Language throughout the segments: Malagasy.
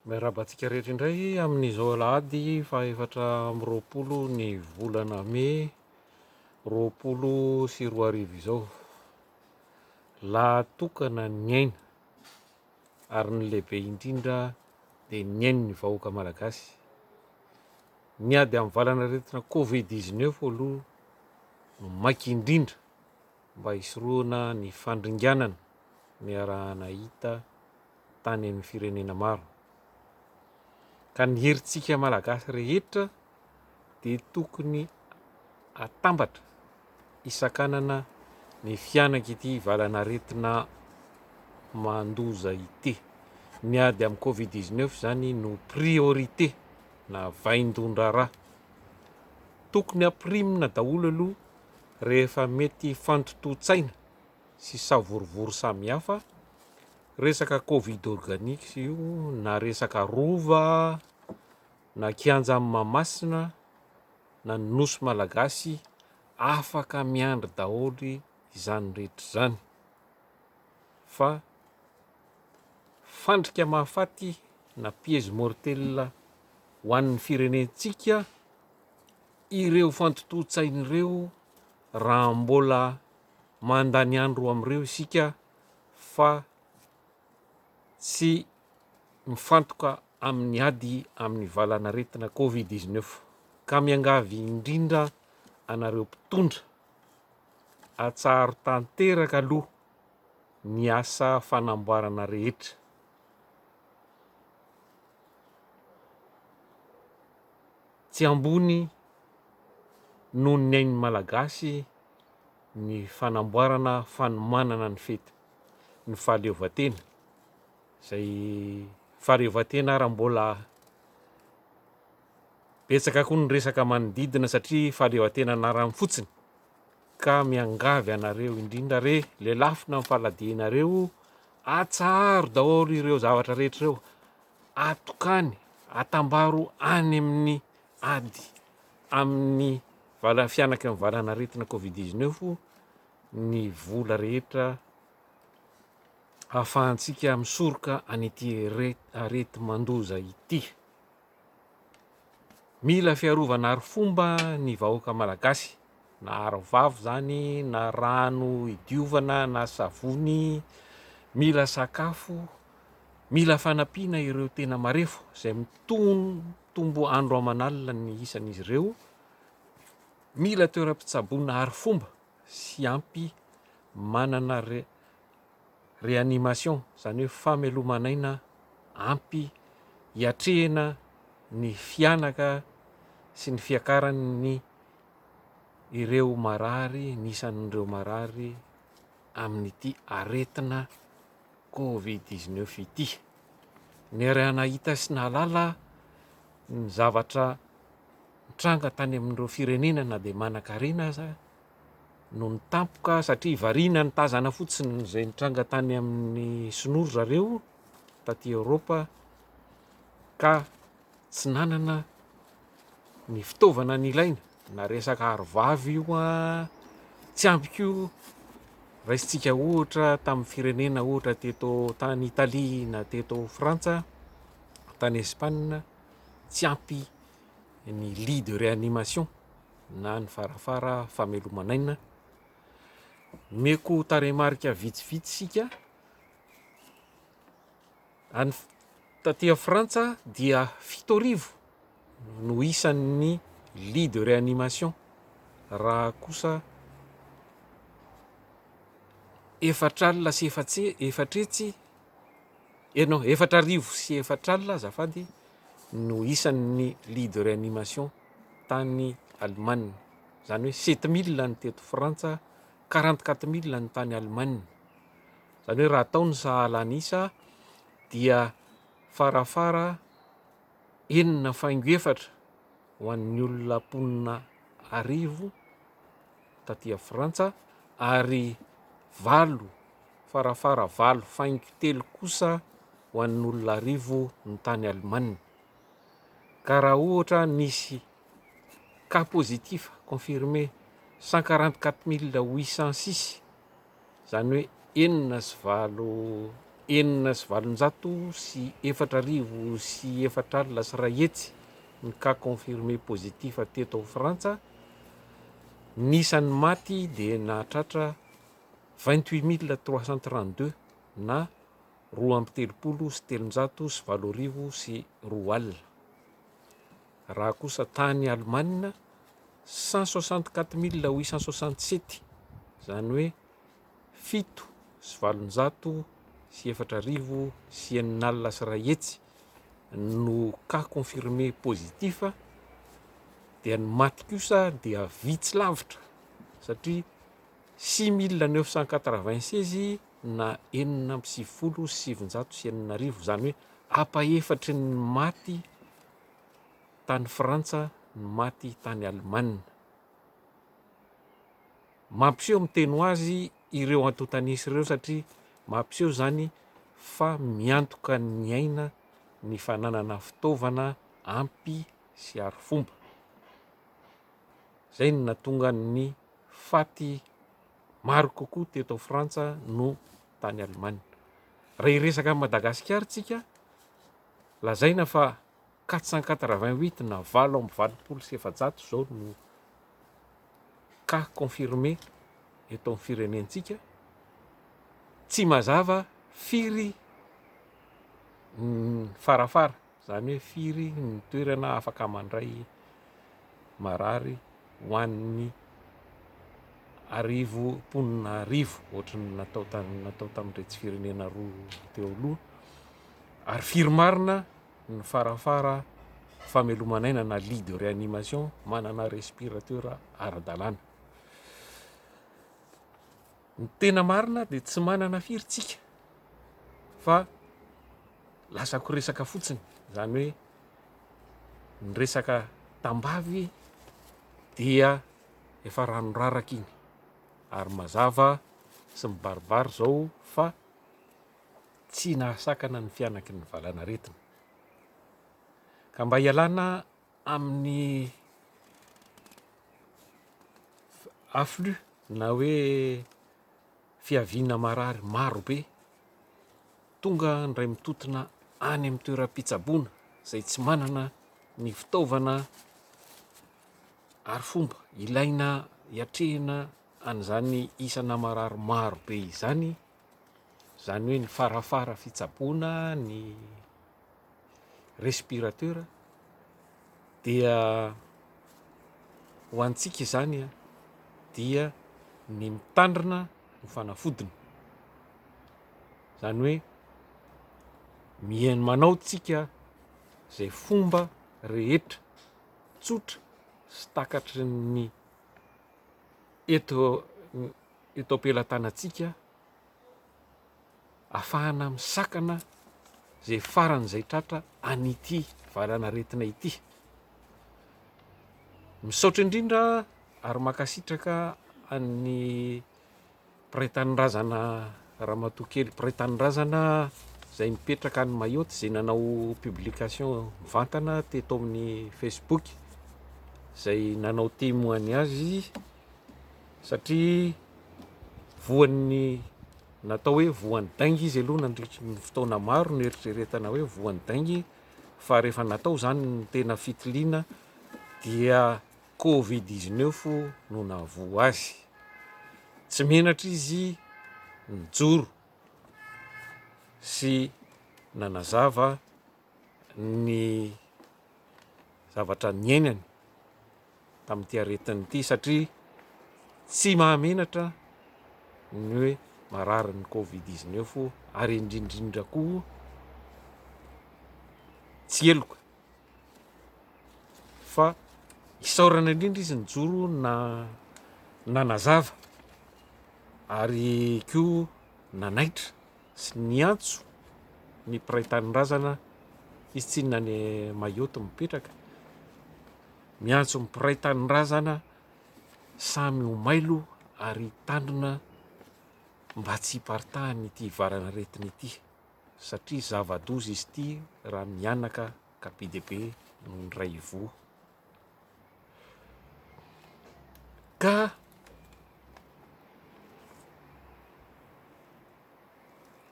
Miarahaba antsika rehetra indray amin'izao alahady fahaefatra amby roapolo ny volana mey roapolo sy roa arivo izao. Lahatokana ny aina ary ny lehibe indrindra dia ny ain'ny vahoaka malagasy. Ny ady amin'ny valanaretina Covid 19 aloha no maika indrindra mba hisorohana ny fandringanana ny arahanahita tany amin'ny firenena maro. Ka ny herintsika Malagasy rehetra dia tokony atambatra hisakanana ny fihanak'ity valan'aretina mandoza ity. Ny ady amin'ny Covid 19 izany no priorité na vaindon-draharaha. Tokony hapirimina daholo aloha rehefa mety fantotoan-tsaina. sy savorovoro samihafa, resaka covid organic io na resaka rova na kianja any Mahamasina na ny nosy malagasy afaka miandry daholo izany rehetra izany fa fandrika mahafaty na piège mortel ho an'ny firenentsika ireo fantotoan-tsaina ireo raha mbola mandany andro amin'ireo isika fa tsy mifantoka amin'ny ady amin'ny valanaretina covid dix-neuf ka miangavy indrindra anareo mpitondra atsaharo tanteraka aloha ny asa fanamboarana rehetra tsy ambony noho ny ain'ny malagasy ny fanamboarana fanomanana ny fety ny fahaleovantena izay fahaleovantena ary mbola betsaka koa ny resaka manodidina satria fahaleovantena anarany fotsiny ka miangavy anareo indrindra re lelafina ny faladianareo atsaharo daholo ireo zavatra rehetra ireo atokany atambaro any amin'ny ady amin'ny Vala fihanaky ny valan'aretina Covid dix neuf ny vola rehetra ahafahantsika misoroka an'ity areti-mandoza ity. Mila fiarovana arifomba ny vahoaka malagasy, na arovavo izany, na rano idiovana, na savony, mila sakafo, mila fanampiana ireo tena marefo izay mitombo andro aman'alina ny isan'izy ireo. Mila toeram-pitsaboana arifomba sy ampy manana réanimation, izany hoe fameloman'aina ampy hiatrehina ny fihanaka sy ny fiakaran'ny ireo marary, ny isan'ireo marary amin'ity aretina covid dix neuf ity. Niaraha-nahita sy nahalala ny zavatra nitranga tany amin'ireo firenena na dia manan-karena aza no ny tampoka satria variana ny tazana fotsiny izay nitranga tany amin'ny sinoa ry zareo taty Eoropa ka tsy nanana ny fitaovana nilaina na resaka arovava io an, tsy ampy koa raisintsika ohatra tamin'ny firenena ohatra teto tany Italie na teto Frantsa tany Espagne tsy ampy ny lit de réanimation na ny farafara fameloman'aina, omeko tarehimarika vitsivitsy isika. Any taty Frantsa dia fito arivo no isan'ny lit de réanimation raha kosa efatra alina sy efatra hetsy eh non efatra arivo sy efatra alina azafady no isan'ny lit de réanimation tany Allemagne, izany hoe sept mille ny teto Frantsa, quarante quatre mille ny tany Allemagne. Izany hoe raha atao ny sahala an'isa dia farafara enina faingo efatra ho an'ny olona mponina arivo taty a Frantsa ary valo farafara valo faingo telo kosa ho an'olona arivo ny tany Alemana. Ka raha ohatra nisy cas positif confirmé 144 mille 806 izany hoe enina sy valo enina sy valonjato sy efatra arivo sy efatra alina sy iray hetsy ny cas confirmés positifs teto ao Frantsa, ny isan'ny maty dia nahatratra vingt huit mille trois cent trente deux na roa amby telopolo sy telonjato sy valo arivo sy roa alina. Raha kosa tany Alemana, cent soixante quatre mille huit cent soixante sept, izany hoe fito sy valonjato sy efatra arivo sy enina alina sy iray hetsy no cas confirmé positif dia ny maty kosa dia vitsy lavitra satria six mille neuf cent quatre vingt seize na enina amby sivifolo sy sivinjato sy enina arivo, izany hoe apa efatry ny maty tany Frantsa ny maty tany Alemana. Mampiseho miteny ho azy ireo antontanisa ireo satria mampiseho izany fa miantoka ny aina ny fananana fitaovana ampy sy arifomba. Izay no natonga ny faty maro kokoa teto Frantsa no tany Alemana. Raha hiresaka an'i Madagasikara tsika, Lazaina fa quatre cent quatre-vingt-huit na valo amby valopolo sy efajato izao no cas confirmé eto amin'ny firenentsika. Tsy mazava firy ny farafara, izany hoe firy ny toerana afaka mandray marary. ho an'ny arivo mponina arivo, ohatry ny natao tany natao tamin'iretsy firenena roa teo aloha, ary firy marina ny farafara fameloman'aina na lit de réanimation manana respirateur ara-dalàna. Ny tena marina dia tsy manana firy tsika fa lazako resaka fotsiny zany hoe ny resaka tambavy dia efa ranoraraka iny ary mazava sy mibaribary zao fa tsy nahasakana ny fianaky ny valanaretina ka mba hialana amin'ny afflux na hoe fiaviana marary maro be, tonga indray mitotona any amin'ny toeram-pitsaboana izay tsy manana ny fitaovana ary fomba ilaina hiatrehina an'izany isana marary maro be izany, izany hoe ny farafara fitsaboana ny. respirateur dia ho antsika izany dia ny mitandrina no fanafodiny izany hoe mihaino manao tsika izay fomba rehetra tsotra sy takatry ny eto eto am-pelatanantsika afahana misakana izay faran'izay tratra an'ity valanaretina ity. Misaotra indrindra ary makasitraka an'ny piraitanindrazana ramatoa kely piraitanindrazana izay mipetraka any Mayotte izay nanao publication mivantana teto amin'ny Facebook izay nanao témoignage satria voan'ny Natao hoe voan'ny dainga izy aloha nandritry ny fotoana maro noeritreretana hoe voan'ny dainga fa rehefa natao izany ny tena fitiliana dia covid dix neuf no nahavoa azy tsy menatra izy nijoro sy nanazava ny zavatra niainany tamin'ity aretina ity satria tsy mahamenatra ny hoe marary ny covid 19 ary indrindrindra koa tsy heloka fa isaorana indrindra izy nijoro na nanazava ary koa nanaitra sy niantso ny mpiray tanindrazana hisy tsinona any Mayotte mipetraka, miantso ny mpiray tanindrazana samy ho mailo ary hitandrina mba tsy hiparitahan'ny ity varanaretina ity satria zava-doza izy ity raha mihanaka ka be dia be no niray ivoho. Ka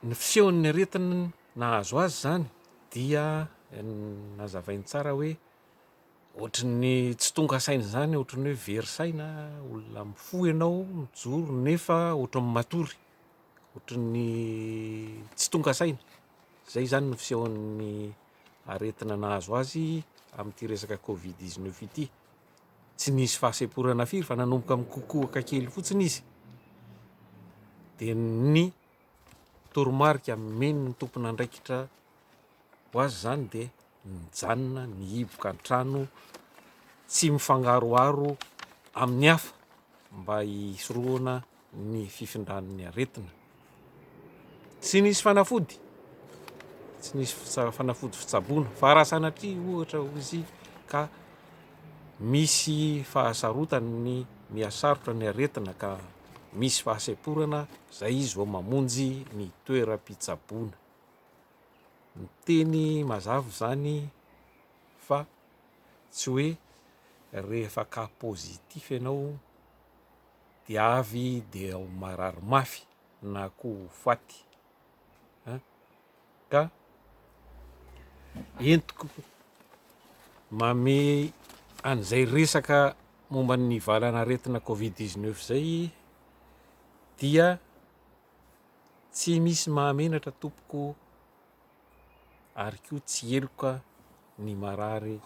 ny fisehon'ny aretina nahazo azy izany dia nazavainy tsara hoe ohatry ny tsy tonga saina izany, ohatry ny hoe very saina, olona mifoha ianao mijoro nefa ohatry ny matory, ohatry ny tsy tonga saina, izay izany no fisehon'ny. aretina nahazo azy amin'ity resaka covid dix neuf ity. Tsy nisy fahasemporana firy fa nanomboka mikokoaka kely fotsiny izy dia ny toromarika meno ny tompon'andraikitra ho azy izany dia nijanona ny hiboka an-trano tsy mifangaroharo amin'ny hafa mba hisorohana ny fifindran'ny aretina. Tsy nisy fanafody, tsy nisy fitsa- fanafody fitsaboana fa raha sanatria ohatra hoy izy ka misy fahasarotany ny mihasarotra ny aretina ka misy fahasemporana zay izy vao mamonjy ny toeram-pitsaboana. Ny teny mazava izany fa tsy hoe rehefa cas positif ianao dia avy dia ho marary mafy na koa ho faty an ka entiko mame an'izay resaka momba ny valana aretina covid 19 zay dia tsy misy mahamenatra tompoko ary koa tsy eloka ny marary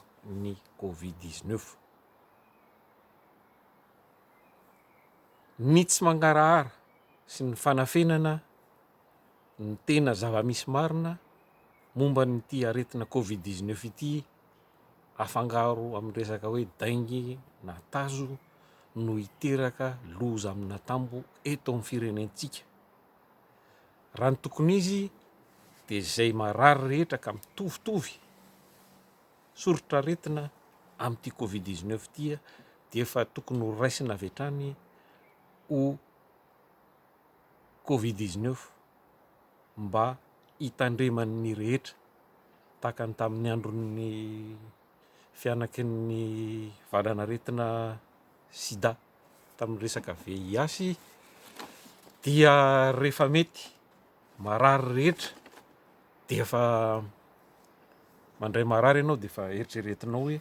ny covid 19 ny tsy mangarahara sy ny fanafenana ny tena zava-misy marina momba an'ity aretina covid dix neuf ity afangaro amin'ny resaka hoe dengue na tazo no hiteraka loza amina tambo eto amin'ny firenentsika. Raha ny tokony izy dia izay marary rehetra ka mitovitovy soritr'aretina amin'ity covid dix neuf ity dia efa tokony ho raisina avy hatrany ho covid dix neuf mba hitandreman'ny rehetra tahaka ny tamin'ny andron'ny fianakin'ny valan'aretina sida tamin'ny resaka VIH dia rehefa mety marary rehetra dia efa mandray marary ianao dia efa eritreretinao hoe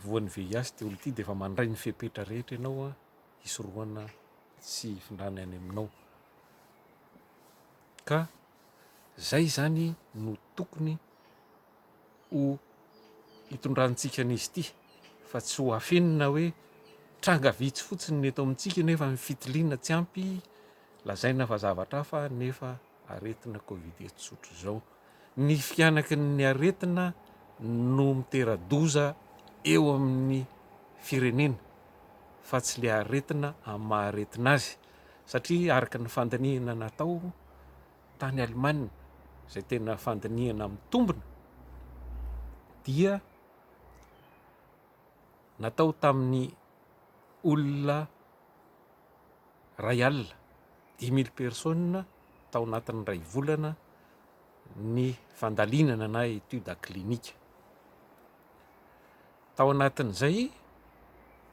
voan'ny VIH ity olona ity dia efa mandray ny fepetra rehetra ianao a hisorohana sy hifindrany any aminao ka zay zany no tokony ho hitondrantsika an'izy ity fa tsy ho afenina hoe tranga vitsy fotsiny ny eto amintsika nefa ny fitiliana tsy ampy lazaina fa zavatra hafa nefa aretina covid eto tsotra izao ny fihanaky ny aretina no mitera-doza eo amin'ny firenena fa tsy le aretina amin'ny maha aretina azy satria araka ny fandinihina natao tany Allemagne izay tena fandinihana mitombina dia natao tamin'ny olona iray alina, dix mille personnes, tao anatin'ny iray volana ny fandalinana na étude clinique. Tao anatin'izay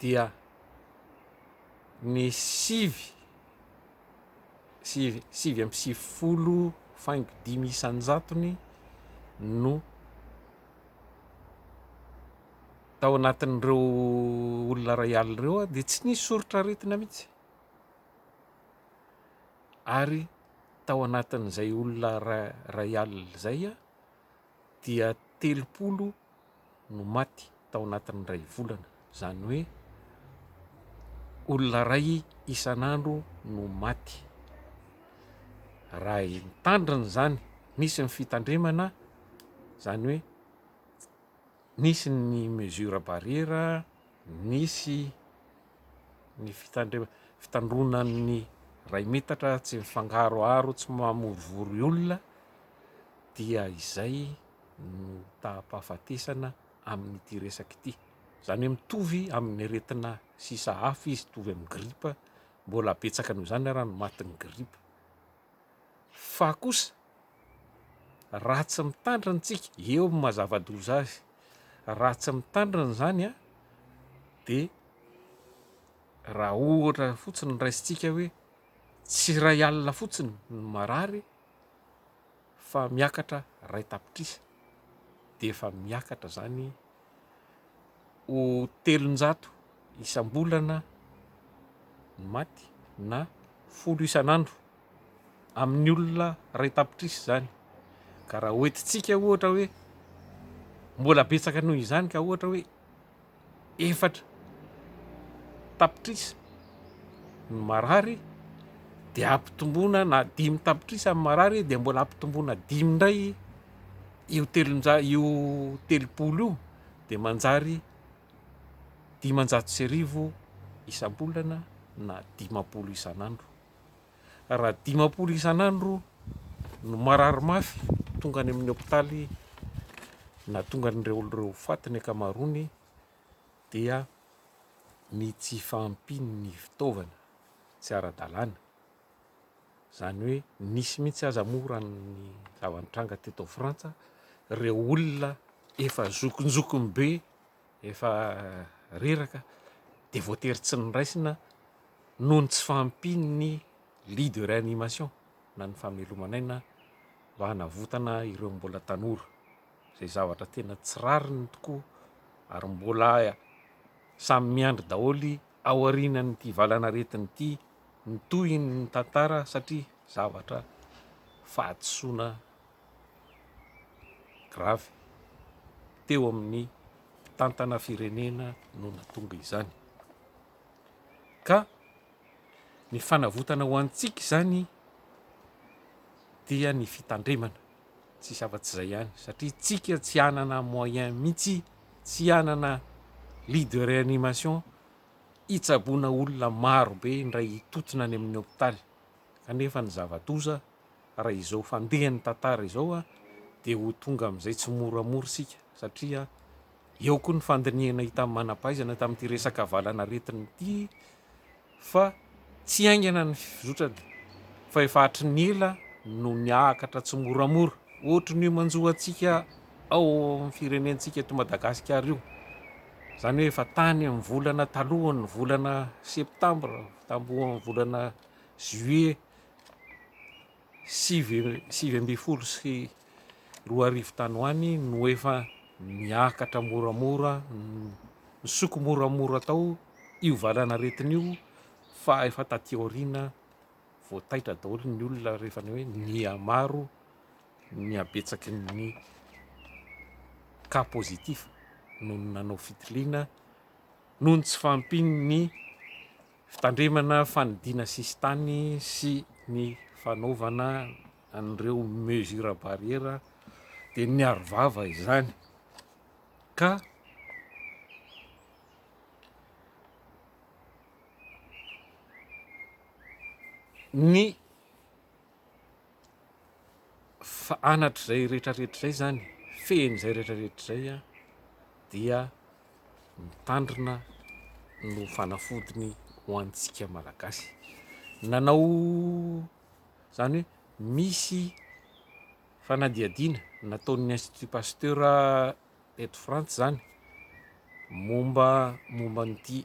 dia ny sivy sy sivy amby sivifolo faingo dimy isan-jatony no tao anatin'ireo olona iray alina ireo dia tsy nisy soritra aretina mihitsy ary tao anatin'izay olona iray alina izay dia telopolo no maty tao anatin'ny iray volana, izany hoe olona iray isan'andro no maty. Raha tandrina izany, nisy ny fitandremana, izany hoe nisy ny mesure barrière, nisy ny fitandremana, fitandroanan'ny iray metatra, tsy mifangaroharo, tsy mamorovory olona. dia izay no taham-pahafatesana amin'ity resaka ity. Izany hoe mitovy amin'ny aretina sisa hafa izy, mitovy amin'ny gripa, mbola betsaka noho izany ary ny matin'ny gripa. Fa kosa raha tsy mitandrina tsika, eo amin'ny mazava-doza azy, raha tsy mitandrina izany a, dia raha ohatra fotsiny raisintsika hoe tsy iray alina fotsiny ny marary, fa miakatra iray tapitrisa dia efa miakatra izany ho telonjato isam-bolana ny maty na folo isan'andro amin'ny olona iray tapitrisa izany ka raha hoentintsika ohatra hoe mbola betsaka noho izany ka ohatra hoe efatra tapitrisa ny marary dia ampitomboina na dimy tapitrisa ny marary dia mbola ampitomboina dimy indray io telonjato io telopolo io dia manjary dimanjato sy arivo isam-bolana na dimampolo isan'andro. raha dimampolo isan'andro no marary mafy tonga any amin'ny hopitaly na tonga an'ireo ireo faty ny ankamaroany dia ny tsy fahampian'ny fitaovana tsy ara-dalàna izany hoe nisy mihitsy aza moa raha ny zava-nitranga teto Frantsa ireo olona efa zokinjokiny be efa reraka dia voatery tsy noraisina noho ny tsy fahampian'ny Lit de Réanimation na ny fameloman'aina mba hanavotana ireo mbola tanora, izay zavatra tena tsy rariny tokoa ary mbola samy miandry daholo aorian'ity valanaretina ity ny tohin'ny tantara satria zavatra fahadisoana. grave teo amin'ny mpitantana firenena no natonga izany. Ka ny fanavotana ho antsika izany dia ny fitandremana, tsisy afa-tsy izay ihany satria tsika tsy hanana moyen mihitsy, tsy hanana lit de réanimation hitsaboana olona maro be indray hitotona any amin'ny hopitaly kanefa ny zava-doza raha izao fandehan'ny tantara izao dia ho tonga amin'izay tsimoramora isika satria eo koa ny fandinihana hitan'ny manampahaizana tamin'ity resaka valanaretina ity fa tsy haingana ny fizotrany fa efa hatry ny ela no miakatra tsimoramora ohatry ny manjo antsika ao amin'ny firenentsika eto Madagasikara io izany hoe efa tany amin'ny volana talohan'ny volana septambra tambohan'ny volana juillet sivy sivy ambin'ny folo sy roa arivo tany ho any no efa miakatra moramora nisoko moramora tao io valanaretina io fa efa taty aoriana vao taitra daholo ny olona rehefa ny hoe nihamaro ny habetsaky ny cas positif noho ny nanao fitiliana noho ny tsy fahampian'ny fitandremana fanidiana sisintany sy ny fanaovana an'ireo mesures barrières dia niaro vava izany ka ny fa anatr'izay rehetra rehetra izay izany, fehin'izay rehetra rehetra izay dia mitandrina no fanafodiny ho antsika malagasy. Nanao izany hoe misy fanadihadiana nataon'ny Institut Pasteur eto Frantsa izany momba momba an'ity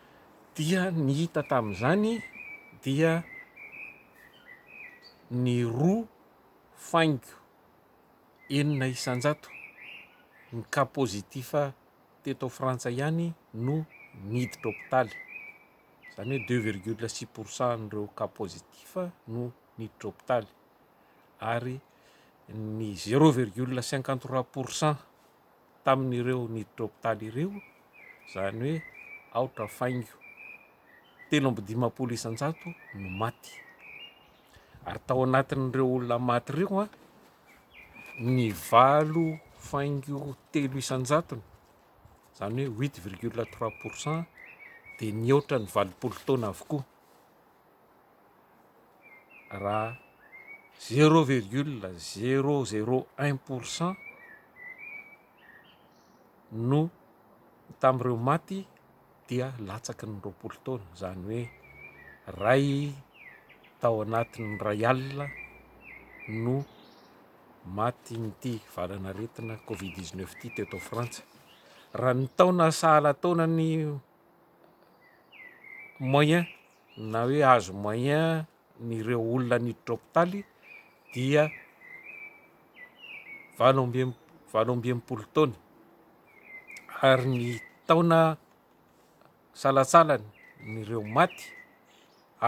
dia ny hita tamin'izany dia ny roa faingo enina isan-jato ny cas positif teto Frantsa ihany no niditra hopitaly, izany hoe deux virgule six pour cent an'ireo cas positif no niditra hopitaly ary ny zero virgule cinquante trois pour cent. tamin'ireo niditra hopitaly ireo, izany hoe aotra faingo telo amby dimampolo isan-jato no maty. Ary tao anatin'ireo olona maty ireo, ny valo faingo telo isan-jatony, izany hoe huit virgule trois pour cent dia nihoatra ny valopolo taona avokoa. raha zéro virgule zéro zéro un pour cent no tamin'ireo maty dia latsaky ny roapolo taona, izany hoe iray tao anatin'ny iray alina no matin'ity valan'aretina covid dix-neuf ity teto Frantsa, raha ny taona sahala taonan'ny. moyen na hoe azo moyen ny ireo olona niditra hopitaly dia valo amby em- valo amby enimpolo taona ary ny taona salatsalany ny ireo maty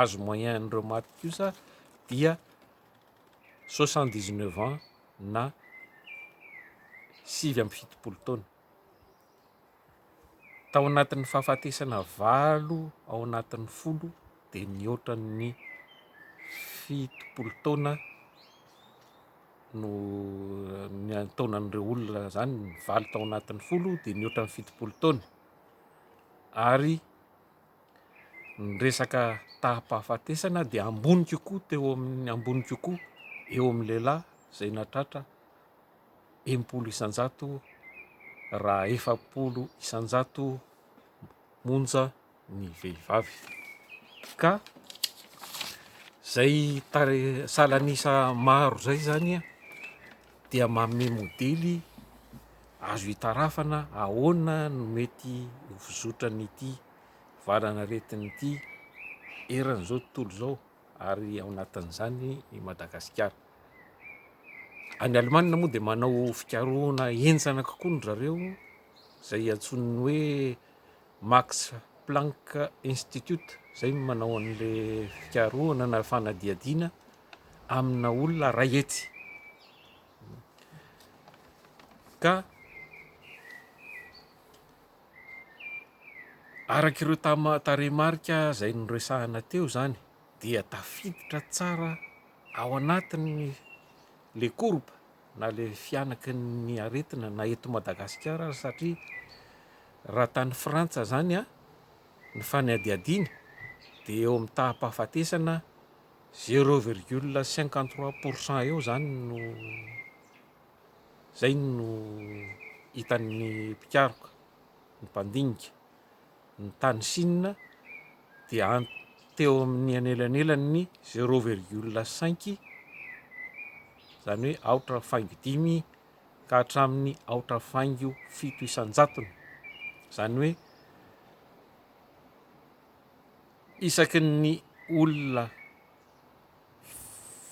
azo moyen an'ireo maty kosa dia soixante dix neuf ans na sivy amby fitopolo taona. Tao anatin'ny fahafatesana valo ao anatin'ny folo dia nihoatra ny fitopolo taona no taonan'ireo olona izany ny valo tao anatin'ny folo dia nihoatra ny fitopolo taona ary ny resaka taham-pahafatesana dia ambony kokoa teo amin'ny ambony kokoa eo amin'ny lehilahy izay nahatratra enim-polo isan-jato raha efapolo isan-jato monja ny vehivavy ka izay salan'isa maro izay izany dia manome modely azo hitarafana ahoana no mety ho fizotran'ity valanaretina ity eran'izao tontolo izao. ary ao anatin'izany i Madagasikara. Any Alemana moa dia manao fikarohana henjana kokoa ny zareo izay iantsoan'ny hoe Max Planck Institute izay no manao an'ilay fikarohana na fanadihadiana amina olona iray hetsy. Ka Araka ireo tarehimarika izay noresahina teo izany dia tafiditra tsara ao anatin'ny le courbe na le fihanaky ny aretina na eto Madagasikara aza satria raha tany Frantsa izany ny fanadihadiana dia eo amin'ny taham-pahafatesana zero virgule cinquante trois pour cent eo izany no Izay no hitan'ny mpikaroka, ny mpandinika, ny tany Sina dia any teo amin'ny anelanelan'ny zéro virgule cinq izany hoe aotra faingo dimy ka hatramin'ny aotra faingo fito isan-jatony izany hoe isaky ny olona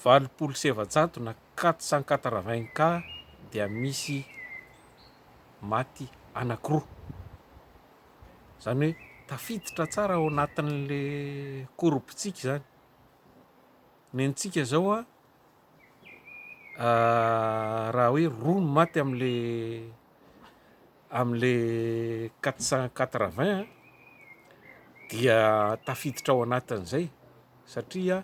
valopolo sy efajato na quatre cent quatre vingt cas dia misy maty anankiroa. Izany hoe tafiditra tsara ao anatin'le korobotsika izany. Ny antsika izao a, raha hoe roa no maty amin'le Amin'ilay quatre cent quatre-vingts dia tafiditra ao anatin'izay satria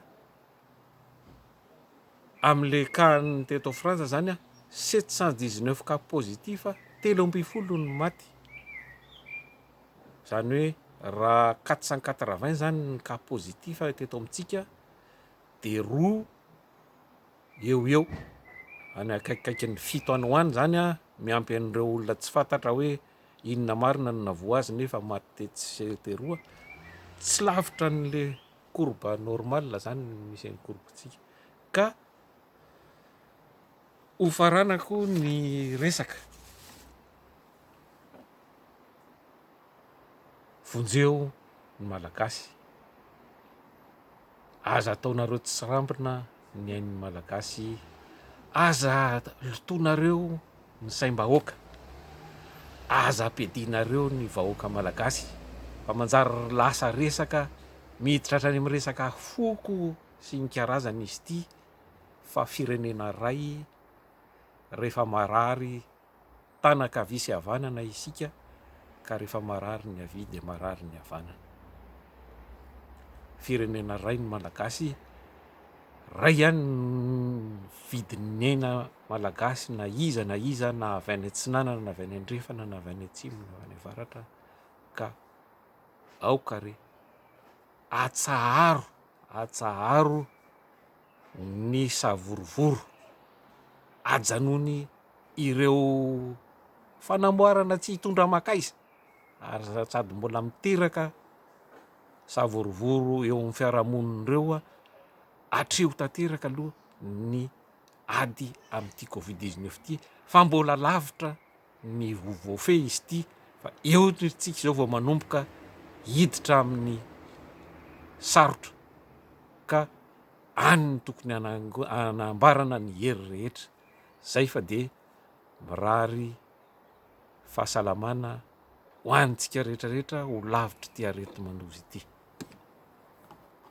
amin'ilay cas-n'ny teto Frantsa izany sept cent dix-neuf cas positifs, telo ambin'ny folo no maty. Izany hoe raha quatre cent quatre-vingts izany ny cas positifs teto amintsika dia roa eo ho eo any akaikikaikin'ny fito any ho any izany an, miampy an'ireo olona tsy fantatra hoe inona marina no navoa azy nefa maty tetsy sy teroa, tsy lavitra an'le courbe normale izany ny misy an'i courbe-tsika ka hofaranako ny resaka. Vonjeo ny Malagasy. Aza ataonareo tsirambina ny ain'ny Malagasy. Aza lotoinareo ny saim-bahoaka. Aza ampiadianareo ny vahoaka Malagasy fa manjary lasa resaka miditra hatrany amin'ny resaka foko sy ny karazany izy ity fa firenena iray rehefa marary Tana ankavia sy havanana isika ka rehefa marary ny havia dia marary ny havanana. Firenena ray ny Malagasy, ray ihany vidinena Malagasy na iza na iza na avy any atsinanana na avy any andrefana na avy any atsimo na avy any avaratra ka aoka re atsaharo atsaharo ny savorovoro ajanony ireo fanamboarana tsy hitondra aman-kaiza ary sady mbola miteraka savorovoro eo amin'ny fiarahamonina ireo aho atreho tanteraka aloha ny ady amin'ity covid dix-neuf ity fa mbola lavitra ny ho voafehy izy ity fa eo isika izao vao manomboka hiditra amin'ny sarotra ka any ny tokony anambarana ny hery rehetra zay fa dia mirary fahasalamana ho antsika rehetrarehetra ho lavitry ity areti-mandoza ity